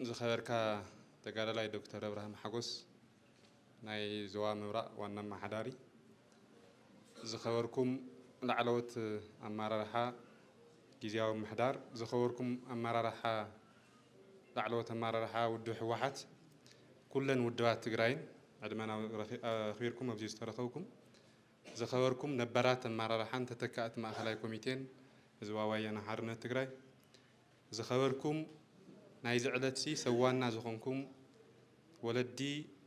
ዝኸበርካ ተጋዳላይ ዶክተር ኣብርሃም ሓጎስ ናይ ዞባ ምብራቕ ዋና ኣመሓዳሪ፣ ዝኸበርኩም ላዕለዎት ኣመራርሓ ጊዜያዊ ምሕዳር፣ ዝኸበርኩም ኣመራርሓ ላዕለዎት ኣመራርሓ ውድብ ህወሓት፣ ኩለን ውድባት ትግራይን ዕድመና ኣኽቢርኩም ኣብዚ ዝተረኸብኩም ዝኸበርኩም ነበራት ኣመራርሓን ተተካእቲ ማእኸላይ ኮሚቴን ህዝባዊ ወያነ ሓርነት ትግራይ፣ ዝኸበርኩም ናይዚ ዕለትዚ ሰብ ዋና ዝኾንኩም ወለዲ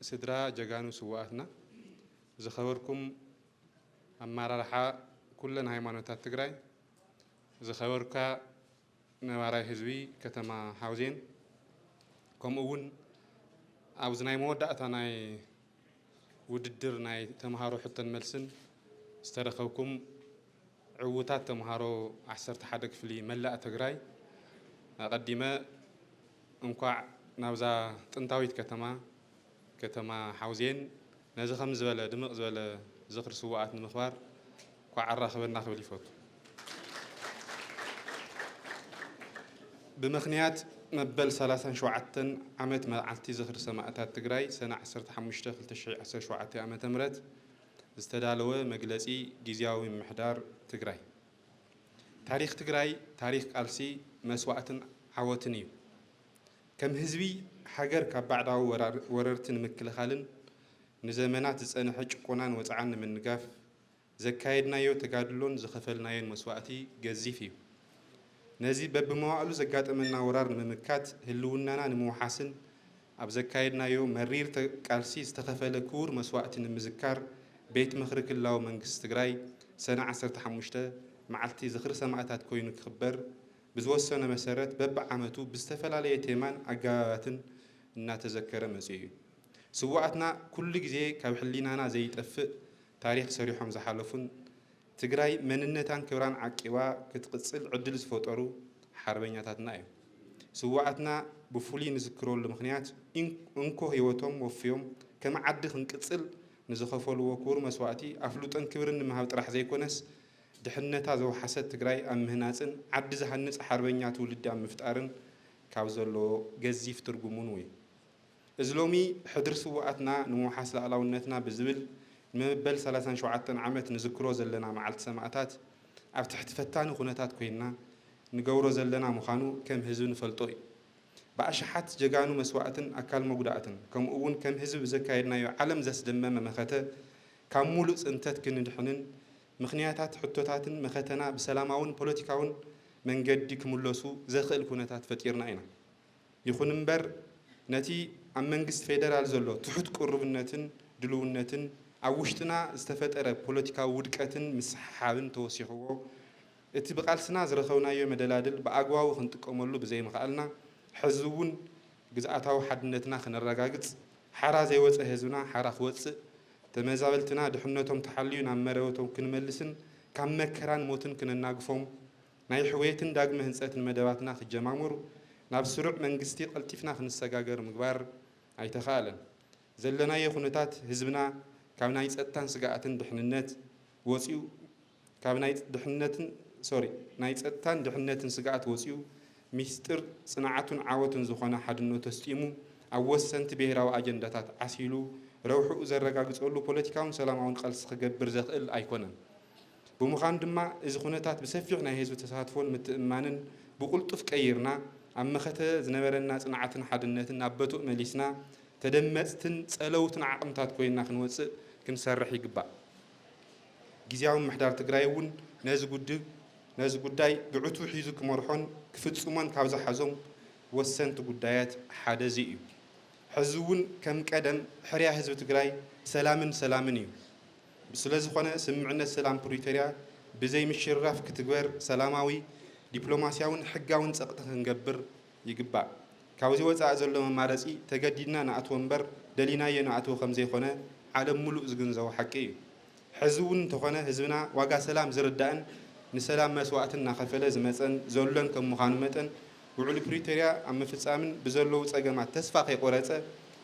ስድራ ጀጋኑ ስውኣትና፣ ዝኸበርኩም ኣመራርሓ ኩለን ሃይማኖታት ትግራይ፣ ዝኸበርካ። ነባራይ ህዝቢ ከተማ ሓውዜን ከምኡ እውን ኣብዚ ናይ መወዳእታ ናይ ውድድር ናይ ተምሃሮ ሕቶን መልስን ዝተረኸብኩም ዕውታት ተምሃሮ ዓሰርተ ሓደ ክፍሊ መላእ ትግራይ ኣቐዲመ እንኳዕ ናብዛ ጥንታዊት ከተማ ከተማ ሓውዜን ነዚ ከምዚ ዝበለ ድምቕ ዝበለ ዝኽሪ ስውኣት ንምኽባር ኳዕ ኣራኸበና ክብል ይፈቱ። ብምኽንያት መበል ሰላሳን ሸውዓተን ዓመት መዓልቲ ዝኽሪ ሰማእታት ትግራይ ሰነ ዓሰርተ ሓሙሽተ ክልተ ሽሕ ዓሰርተ ሸውዓተ ዓመተ ምህረት ዝተዳለወ መግለፂ ጊዚያዊ ምምሕዳር ትግራይ ታሪኽ ትግራይ ታሪኽ ቃልሲ፣ መስዋእትን ዓወትን እዩ። ከም ህዝቢ ሃገር ካብ ባዕዳዊ ወረርቲ ንምክልኻልን ንዘመናት ዝፀንሐ ጭቆናን ወፅዓን ንምንጋፍ ዘካየድናዮ ተጋድሎን ዝኸፈልናዮን መስዋእቲ ገዚፍ እዩ። ነዚ በቢመዋእሉ ዘጋጠመና ወራር ንምምካት ህልውናና ንምውሓስን ኣብ ዘካየድናዮ መሪር ቃልሲ ዝተኸፈለ ክቡር መስዋእቲ ንምዝካር ቤት ምኽሪ ክልላዊ መንግስቲ ትግራይ ሰነ ዓሰርተ ሓሙሽተ መዓልቲ ዝኽሪ ሰማእታት ኮይኑ ክኽበር ብዝወሰነ መሰረት በቢዓመቱ ብዝተፈላለየ ቴማን ኣገባባትን እናተዘከረ መፂኡ ዩ። ስውኣትና ኩሉ ግዜ ካብ ሕሊናና ዘይጠፍእ ታሪኽ ሰሪሖም ዝሓለፉን ትግራይ መንነታን ክብራን ዓቂባ ክትቕፅል ዕድል ዝፈጠሩ ሓርበኛታትና ዮም። ስውኣትና ብፍሉይ ንዝክረሉ ምኽንያት እንኮ ህይወቶም ወፍዮም ከም ዓዲ ክንቅፅል ንዝኸፈልዎ ክቡር መስዋእቲ ኣፍልጦን ክብርን ንምሃብ ጥራሕ ዘይኮነስ ድሕነታ ዘውሓሰት ትግራይ ኣብ ምህናፅን ዓዲ ዝሃንፅ ሓርበኛ ትውልዲ ኣብ ምፍጣርን ካብ ዘለዎ ገዚፍ ትርጉም እውን እዩ። እዚ ሎሚ ሕድሪ ስውኣትና ንምውሓስ ልኣላውነትና ብዝብል ንመበል ሰላሳን ሸውዓተን ዓመት ንዝክሮ ዘለና መዓልቲ ሰማእታት ኣብ ትሕቲ ፈታኒ ኩነታት ኮይንና ንገብሮ ዘለና ምዃኑ ከም ህዝቢ ንፈልጦ እዩ። ብኣሽሓት ጀጋኑ መስዋእትን ኣካል መጉዳእትን ከምኡ እውን ከም ህዝቢ ብዘካየድናዮ ዓለም ዘስደመመ መኸተ ካብ ሙሉእ ፅንተት ክንድሕንን ምኽንያታት ሕቶታትን መኸተና ብሰላማውን ፖለቲካውን መንገዲ ክምለሱ ዘኽእል ኩነታት ፈጢርና ኢና። ይኹን እምበር ነቲ ኣብ መንግስቲ ፌደራል ዘሎ ትሑት ቅሩብነትን ድልውነትን ኣብ ውሽጥና ዝተፈጠረ ፖለቲካዊ ውድቀትን ምስሕሓብን ተወሲኽዎ እቲ ብቓልስና ዝረኸብናዮ መደላድል ብኣግባቡ ክንጥቀመሉ ብዘይምኽኣልና ሕዚ እውን ግዝኣታዊ ሓድነትና ከነረጋግፅ ሓራ ዘይወፀ ህዝብና ሓራ ክወፅእ ተመዛበልትና ድሕነቶም ተሓልዩ ናብ መረበቶም ክንመልስን ካብ መከራን ሞትን ክነናግፎም፣ ናይ ሕውየትን ዳግመ ህንፀትን መደባትና ክጀማምሩ፣ ናብ ስሩዕ መንግስቲ ቀልጢፍና ክንሰጋገር ምግባር ኣይተኻእለን። ዘለናዮ ኩነታት ህዝብና ካብ ናይ ፀጥታን ስግኣትን ድሕንነት ወፂኡ፣ ካብ ናይ ድሕነትን ሶሪ ናይ ጸጥታን ድሕነትን ስግኣት ወጺኡ ሚስጥር ጽንዓቱን ዓወቱን ዝኾነ ሓድነቱ ኣስጢሙ ኣብ ወሰንቲ ብሄራዊ ኣጀንዳታት ዓሲሉ ረብሕኡ ዘረጋግጸሉ ፖለቲካውን ሰላማውን ቐልሲ ክገብር ዘኽእል ኣይኮነን። ብምዃኑ ድማ እዚ ኩነታት ብሰፊሕ ናይ ህዝቢ ተሳትፎን ምትእምማንን ብቕልጡፍ ቀይርና ኣብ መኸተ ዝነበረና ጽንዓትን ሓድነትን ናብ በቱእ መሊስና ተደመጽትን ጸለውትን ዓቕምታት ኮይና ክንወጽእ ክንሰርሕ ይግባእ። ግዝያዊ ምምሕዳር ትግራይ እውን ነዚ ጉድብ ነዚ ጉዳይ ብዕቱብ ሒዙ ክመርሖን ክፍፅሞን ካብ ዝሓዞም ወሰንቲ ጉዳያት ሓደ እዚ እዩ። ሕዚ እውን ከም ቀደም ሕርያ ህዝቢ ትግራይ ሰላምን ሰላምን እዩ። ስለዝኾነ ስምምዕነት ሰላም ፕሪቶርያ ብዘይ ምሽርራፍ ክትግበር ሰላማዊ፣ ዲፕሎማስያውን ሕጋውን ፀቕጢ ክንገብር ይግባእ። ካብዚ ወጻኢ ዘሎ መማረጺ ተገዲድና ንኣትዎ እምበር ደሊናዮ ንኣትዎ ከምዘይኮነ ዓለም ሙሉእ ዝግንዘቦ ሓቂ እዩ። ሕዚ እውን እንተኾነ ህዝብና ዋጋ ሰላም ዝርዳእን ንሰላም መስዋእቲ እናኸፈለ ዝመጸን ዘሎን ከም ምዃኑ መጠን ውዕሊ ፕሪቶርያ ኣብ ምፍጻምን ብዘለዉ ጸገማት ተስፋ ከይቆረጸ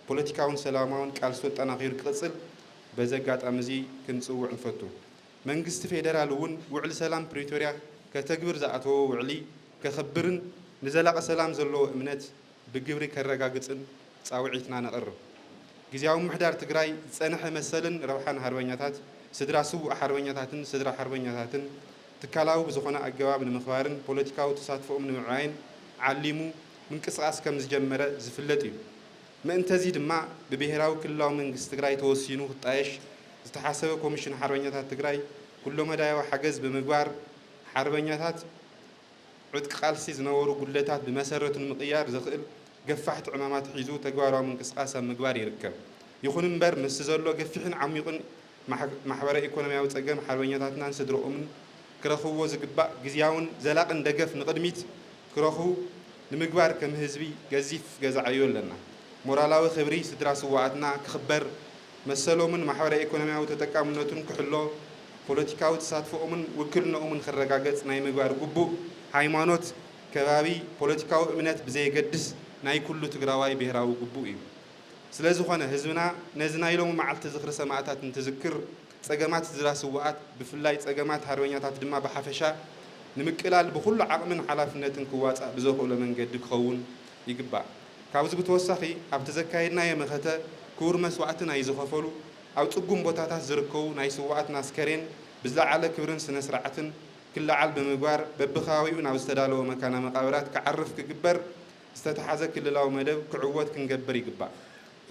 ፖለቲካውን ሰላማውን ቃልሱ ኣጠናኺሩ ክቕጽል በዚ ኣጋጣሚ እዚ ክንጽውዕ ንፈቱ። መንግስቲ ፌደራል እውን ውዕሊ ሰላም ፕሪቶርያ ከተግብር ዝኣተዎ ውዕሊ ከኽብርን ንዘላቒ ሰላም ዘለዎ እምነት ብግብሪ ከረጋግፅን ፃውዒትና ነቕርብ። ግዝያዊ ምምሕዳር ትግራይ ዝፀንሐ መሰልን ረብሓን ሃርበኛታት፣ ስድራ ስውእ ሓርበኛታትን ስድራ ሓርበኛታትን ትካላዊ ብዝኾነ ኣገባብ ንምኽባርን ፖለቲካዊ ተሳትፎኦም ንምዕባይን ዓሊሙ ምንቅስቓስ ከምዝጀመረ ዝፍለጥ እዩ። ምእንተዚ ድማ ብብሄራዊ ክልላዊ መንግስቲ ትግራይ ተወሲኑ ክጣየሽ ዝተሓሰበ ኮሚሽን ሓርበኛታት ትግራይ ኩለመዳያዊ ሓገዝ ብምግባር ሓርበኛታት ዕጥቂ ቃልሲ ዝነበሩ ጉድለታት ብመሰረቱ ንምቕያር ዘኽእል ገፋሕቲ ዕማማት ሒዙ ተግባራዊ ምንቅስቓስ ኣብ ምግባር ይርከብ። ይኹን እምበር ምስቲ ዘሎ ገፊሕን ዓሚቑን ማሕበረ ኢኮኖሚያዊ ፀገም ሓርበኛታትናን ስድረኦምን ክረኽብዎ ዝግባእ ግዝያውን ዘላቕን ደገፍ ንቕድሚት ክረኽቡ ንምግባር ከም ህዝቢ ገዚፍ ገዛ ዕዮ ኣለና። ሞራላዊ ክብሪ ስድራ ስውኣትና ክኽበር መሰሎምን ማሕበረ-ኢኮኖሚያዊ ተጠቃምነቱን ክሕሎ፣ ፖለቲካዊ ተሳትፎኦምን ውክልንኦምን ክረጋገጽ ናይ ምግባር ግቡእ፣ ሃይማኖት፣ ከባቢ፣ ፖለቲካዊ እምነት ብዘየገድስ ናይ ኩሉ ትግራዋይ ብሄራዊ ግቡእ እዩ። ስለዝኾነ ህዝብና ነዚ ናይ ሎሚ መዓልቲ ዝኽሪ ሰማእታት እንትዝክር ጸገማት ስድራ ስውኣት ብፍላይ ጸገማት ሃርበኛታት ድማ ብሓፈሻ ንምቅላል ብኹሉ ዓቕምን ሓላፍነትን ክዋጻእ ብዘኽእሎ መንገዲ ክኸውን ይግባእ። ካብዚ ብተወሳኺ ኣብቲ ዘካየድናዮ መኸተ ክቡር መስዋእቲ ናይ ዝኸፈሉ ኣብ ፅጉም ቦታታት ዝርከቡ ናይ ስውኣትና ኣስከሬን ብዝለዓለ ክብርን ስነ ስርዓትን ክለዓል ብምግባር በቢከባቢኡ ናብ ዝተዳለወ መካነ መቓብራት ክዓርፍ ክግበር ዝተትሓዘ ክልላዊ መደብ ክዕወት ክንገብር ይግባእ።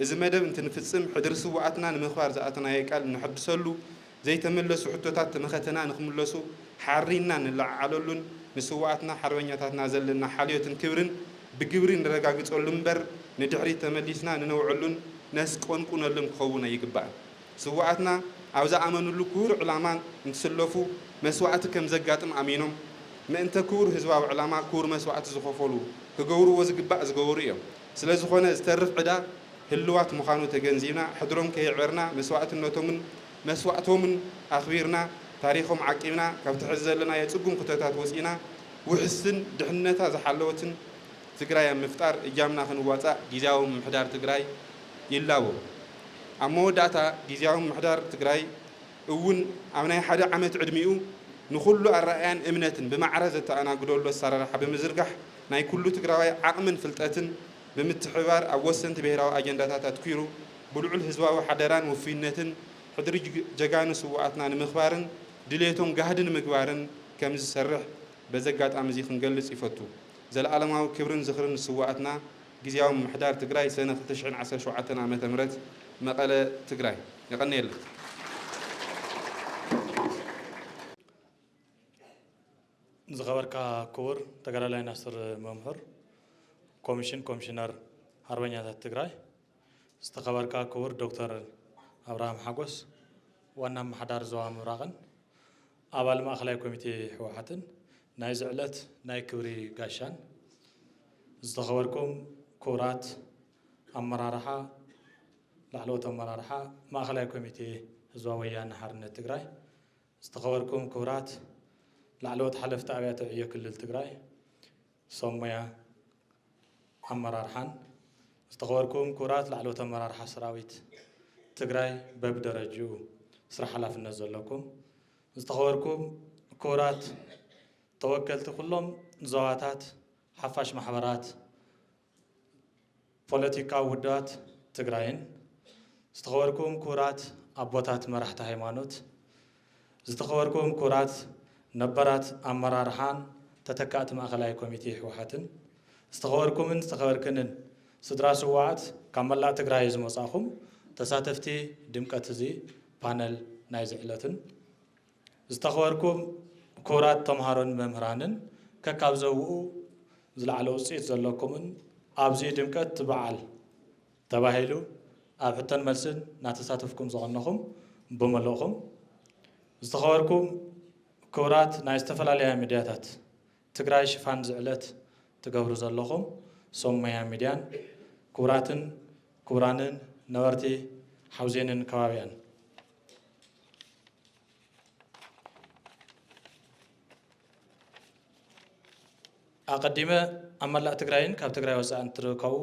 እዚ መደብ እንትንፍፅም ሕድሪ ስውኣትና ንምኽባር ዝኣተናዮ ቃል እነሕድሰሉ ዘይተመለሱ ሕቶታት ተመኸተና ንክምለሱ ሓሪንና ንለዓዓለሉን ንስውኣትና ሓርበኛታትና ዘለና ሓልዮትን ክብርን ብግብሪ ንረጋግጸሉ እምበር ንድሕሪት ተመሊስና ንነውዐሉን ነስቆንቁነሉን ክኸውን ኣይግባእን። ስውኣትና ኣብ ዝኣመንሉ ክቡር ዕላማ እንትስለፉ መስዋእቲ ከም ዘጋጥም ኣሚኖም ምእንተ ክቡር ህዝባዊ ዕላማ ክቡር መስዋእቲ ዝኸፈሉ ክገብርዎ ዝግባእ ዝገበሩ እዮም። ስለዝኾነ ዝተርፍ ዕዳ ህልዋት ምዃኑ ተገንዚብና፣ ሕድሮም ከየዕበርና፣ መስዋእትነቶምን መስዋእቶምን ኣኽቢርና፣ ታሪኾም ዓቂብና፣ ካብቲ ሕዚ ዘለናዮ ጽጉም ኩተታት ወጺእና፣ ውሕስትን ድሕንነታ ዝሓለወትን ትግራይ ኣብ ምፍጣር እጃምና ክንዋጻእ ጊዚያዊ ምምሕዳር ትግራይ ይላቦ። ኣብ መወዳእታ ጊዚያዊ ምምሕዳር ትግራይ እውን ኣብ ናይ ሓደ ዓመት ዕድሚኡ ንኹሉ ኣረኣእያን እምነትን ብማዕረ ዘተኣናግደሉ ኣሰራርሓ ብምዝርጋሕ ናይ ኩሉ ትግራዋይ ዓቕምን ፍልጠትን ብምትሕብባር ኣብ ወሰንቲ ብሄራዊ ኣጀንዳታት ኣትኲሩ ብልዑል ህዝባዊ ሓደራን ውፉይነትን ሕድሪ ጀጋኑ ስውኣትና ንምኽባርን ድልየቶም ጋህዲ ንምግባርን ከምዝሰርሕ በዚ ኣጋጣሚ እዚ ክንገልፅ ይፈቱ። ዘለኣለማዊ ክብርን ዝኽርን ንስውኣትና! ግዝያዊ ምምሕዳር ትግራይ ሰነ ክልተ ሽሕን ዓሰርተ ሸውዓተን ዓመተ ምህረት መቐለ፣ ትግራይ። የቐንየለይ። ዝኸበርካ ክቡር ተጋዳላይ ናስር መምሁር ኮሚሽን ኮሚሽነር ሓርበኛታት ትግራይ፣ ዝተኸበርካ ክቡር ዶክተር ኣብርሃም ሓጎስ ዋና ኣመሓዳሪ ዞባ ምብራቕን ኣባል ማእኸላይ ኮሚቴ ህወሓትን ናይዚ ዕለት ናይ ክብሪ ጋሻን፣ ዝተኸበርኩም ክቡራት ኣመራርሓ ላዕለዎት ኣመራርሓ ማእኸላይ ኮሚቴ ህዝባዊ ወያነ ሓርነት ትግራይ፣ ዝተኸበርኩም ክቡራት ላዕለዎት ሓለፍቲ ኣብያተ ዕዮ ክልል ትግራይ፣ ሰብ ሞያ ኣመራርሓን ዝተኸበርኩም ክቡራት ላዕለዎት ኣመራርሓ ሰራዊት ትግራይ በብደረጅኡ ስራሕ ሓላፍነት ዘለኩም፣ ዝተኸበርኩም ክቡራት ተወከልቲ ኩሎም ዞባታት ሓፋሽ ማሕበራት፣ ፖለቲካዊ ውድባት ትግራይን ዝተኸበርኩም ክቡራት ኣቦታት መራሕቲ ሃይማኖት፣ ዝተኸበርኩም ክቡራት ነባራት ኣመራርሓን ተተካእቲ ማእኸላይ ኮሚቴ ህወሓትን፣ ዝተኸበርኩምን ዝተኸበርክንን ስድራ ስውኣት ካብ መላእ ትግራይ ዝመፃእኹም ተሳተፍቲ ድምቀት እዚ ፓነል ናይዚ ዕለትን፣ ዝተኸበርኩም ክቡራት ተምሃሮን መምህራንን ከካብ ዘብኡ ዝለዓለ ውፅኢት ዘለኩምን ኣብዙይ ድምቀት በዓል ተባሂሉ ኣብ ሕቶን መልስን ናተሳተፍኩም ዘቐነኹም ብሙሉእኹም ዝተኸበርኩም ክቡራት ናይ ዝተፈላለያ ሚድያታት ትግራይ ሽፋን ዝዕለት ትገብሩ ዘለኹም ሶም ሞያ ሚድያን ክቡራትን ክቡራንን ነበርቲ ሓውዜንን ከባቢኣን። ኣቐዲመ ኣብ መላእ ትግራይን ካብ ትግራይ ወፃእን እትርከቡ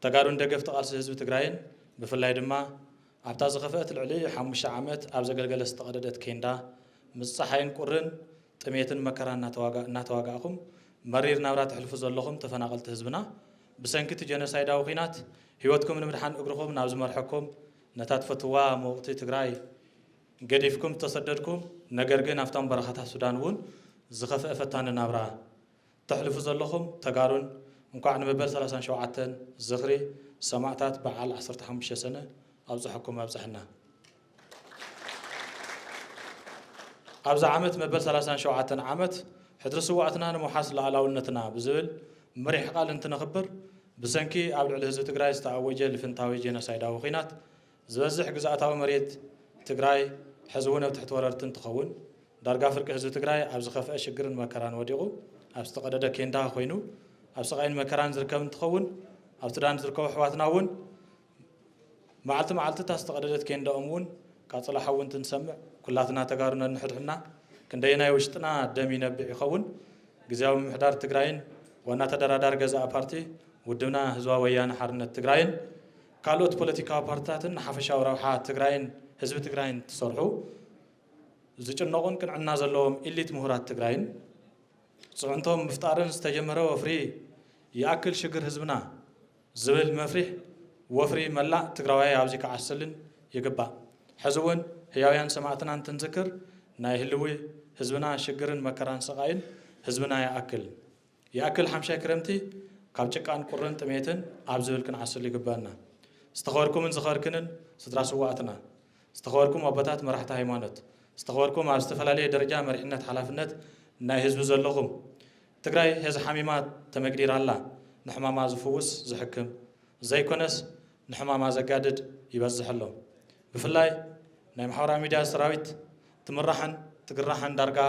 ተጋሩን ደገፍቲ ቃልሲ ህዝቢ ትግራይን ብፍላይ ድማ ኣብታ ዝኸፍአት ልዕሊ ሓሙሽተ ዓመት ኣብ ዘገልገለ ዝተቐደደት ኬንዳ ምስ ጸሓይን ቁርን፣ ጥሜትን መከራን እናተዋጋእኹም መሪር ናብራ ተሕልፉ ዘለኹም ተፈናቐልቲ ህዝብና፣ ብሰንኪ እቲ ጀኖሳይዳዊ ኲናት ህይወትኩም ንምድሓን እግርኹም ናብ ዝመርሐኩም ነታ ትፈትውዋ ምውቕቲ ትግራይ ገዲፍኩም ዝተሰደድኩም ነገር ግን ኣብቶም በረኻታት ሱዳን እውን ዝኸፍአ ፈታኒ ናብራ ተሕልፉ ዘለኹም ተጋሩን እንኳዕ ንመበል ሰላሳን ሸውዓተን ዝኽሪ ሰማእታት በዓል ዓሰርተ ሓሙሽተ ሰነ ኣብፀሐኩም ኣብፀሐና። ኣብዚ ዓመት መበል ሰላሳን ሸውዓተን ዓመት ሕድሪ ስዋእትና ንምውሓስ ላኣላውነትና ብዝብል መሪሕ ቃል እንትነኽብር ብሰንኪ ኣብ ልዕሊ ህዝቢ ትግራይ ዝተኣወጀ ልፍንታዊ ጄኖሳይዳዊ ኹናት ዝበዝሕ ግዝኣታዊ መሬት ትግራይ ሕዚ እውን ኣብ ትሕቲ ወረርቲ እንትኸውን ዳርጋ ፍርቂ ህዝቢ ትግራይ ኣብ ዝኸፍአ ሽግርን መከራን ወዲቑ ኣብ ዝተቐደደ ኬንዳ ኮይኑ ኣብ ስቓይን መከራን ዝርከብ እንትኸውን ኣብ ሱዳን ዝርከቡ ኣሕዋትና እውን መዓልቲ መዓልቲ እታ ዝተቐደደት ኬንዳኦም እውን ቃፅላ ሓዊ እንትንሰምዕ ኩላትና ተጋሩ ነንሕድሕድና ክንደየናይ ውሽጥና ደም ይነብዕ ይኸውን ግዝያዊ ምምሕዳር ትግራይን ዋና ተደራዳሪ ገዛኢ ፓርቲ ውድብና ህዝባዊ ወያነ ሓርነት ትግራይን ካልኦት ፖለቲካዊ ፓርቲታትን ንሓፈሻዊ ረብሓ ትግራይን ህዝቢ ትግራይን ትሰርሑ ዝጭነቑን ቅንዕና ዘለዎም ኢሊት ምሁራት ትግራይን ፅዕንቶም ምፍጣርን ዝተጀመረ ወፍሪ ይኣክል ሽግር ህዝብና ዝብል መፍሪሕ ወፍሪ መላእ ትግራዋይ ኣብዚ ክዓስልን ይግባእ። ሕዚ እውን ህያውያን ሰማእትና እንትንዝክር ናይ ህልዊ ህዝብና ሽግርን መከራን ስቓይን ህዝብና ይኣክል ይኣክል ሓምሻይ ክረምቲ ካብ ጭቃን ቁርን ጥሜትን ኣብ ዝብል ክንዓስል ይግበኣና። ዝተኸበርኩምን ዝኸበርክንን ስድራ ስውኣትና፣ ዝተኸበርኩም ኣቦታት መራሕቲ ሃይማኖት፣ ዝተኸበርኩም ኣብ ዝተፈላለየ ደረጃ መሪሕነት ሓላፍነት ናይ ህዝቢ ዘለኹም፣ ትግራይ ሔዚ ሓሚማ ተመግዲራ ኣላ፣ ንሕማማ ዝፍውስ ዝሕክም ዘይኮነስ ንሕማማ ዘጋድድ ይበዝሕ ኣሎ። ብፍላይ ናይ ማሕበራዊ ሚድያ ሰራዊት ትምራሕን ትግራሕን ዳርጋ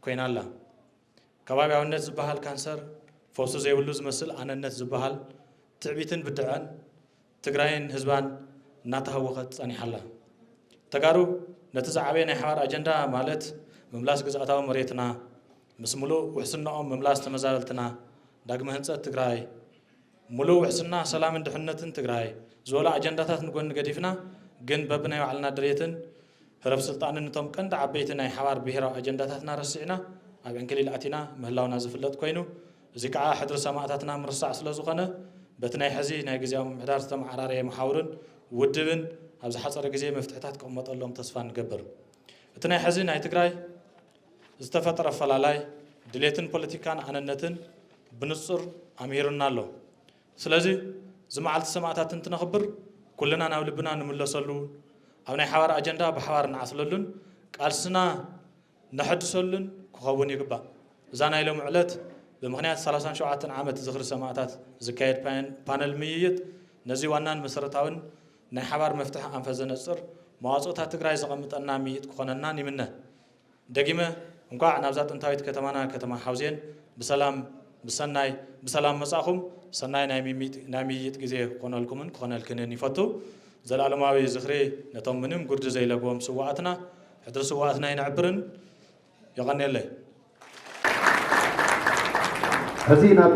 ኮይና ኣላ። ከባቢያዊነት ዝበሃል ካንሰር ፈውሲ ዘይብሉ ዝመስል ኣነነት ዝበሃል ትዕቢትን ብድዐን ትግራይን ህዝባን እናተሃወኸት ፀኒሓ ኣላ። ተጋሩ ነቲ ዝዓበየ ናይ ሓባር ኣጀንዳ ማለት ምምላስ ግዝኣታዊ መሬትና ምስ ሙሉእ ውሕስነኦም ምምላስ ተመዛበልትና ዳግመ ህንፀት ትግራይ፣ ሙሉእ ውሕስና ሰላምን ድሕንነትን ትግራይ ዝበሉ ኣጀንዳታት ንጎኒ ገዲፍና ግን በብናይ ባዕልና ድሌትን ህረፍ ስልጣንን እቶም ቀንዲ ዓበይቲ ናይ ሓባር ብሄራዊ ኣጀንዳታትና ረሲዕና ኣብ ዕንክሊል ኣቲና ምህላውና ዝፍለጥ ኮይኑ እዚ ከዓ ሕድሪ ሰማእታትና ምርሳዕ ስለዝኾነ በቲ ናይ ሕዚ ናይ ግዝያዊ ምምሕዳር ዝተመዓራረየ መሓውርን ውድብን ኣብ ዝሓፀረ ግዜ መፍትሕታት ክቕመጠሎም ተስፋ ንገብር እቲ ናይ ሕዚ ናይ ትግራይ ዝተፈጥረ ኣፈላላይ ድሌትን ፖለቲካን ኣነነትን ብንጹር ኣምሂሩና ኣሎ። ስለዚ እዚ መዓልቲ ሰማእታት እንትነኽብር ኩልና ናብ ልብና ንምለሰሉ፣ ኣብ ናይ ሓባር ኣጀንዳ ብሓባር ንዓስለሉን ቃልስና ነሐድሰሉን ክኸውን ይግባእ። እዛ ናይ ሎሚ ዕለት ብምኽንያት ሰላሳን ሸውዓተን ዓመት ዝኽሪ ሰማእታት ዝካየድ ፓነል ምይይጥ ነዚ ዋናን መሰረታዊን ናይ ሓባር መፍትሒ ኣንፈት ዘነጽር መዋጽኦታት ትግራይ ዘቐምጠና ምይይጥ ክኾነናን ይምነ። ደጊመ እንኳዕ ናብዛ ጥንታዊት ከተማና ከተማ ሓውዜን ብሰላም ብሰናይ ብሰላም መፃእኹም ሰናይ ናይ ምይይጥ ግዜ ክኾነልኩምን ክኾነልክንን ይፈቱ ዘልኣለማዊ ዝኽሪ ነቶም ምንም ጉርዲ ዘይለግቦም ስውኣትና ሕድሪ ስውኣትና ይነዕብርን የቐኔለይ። ሕዚ ናብ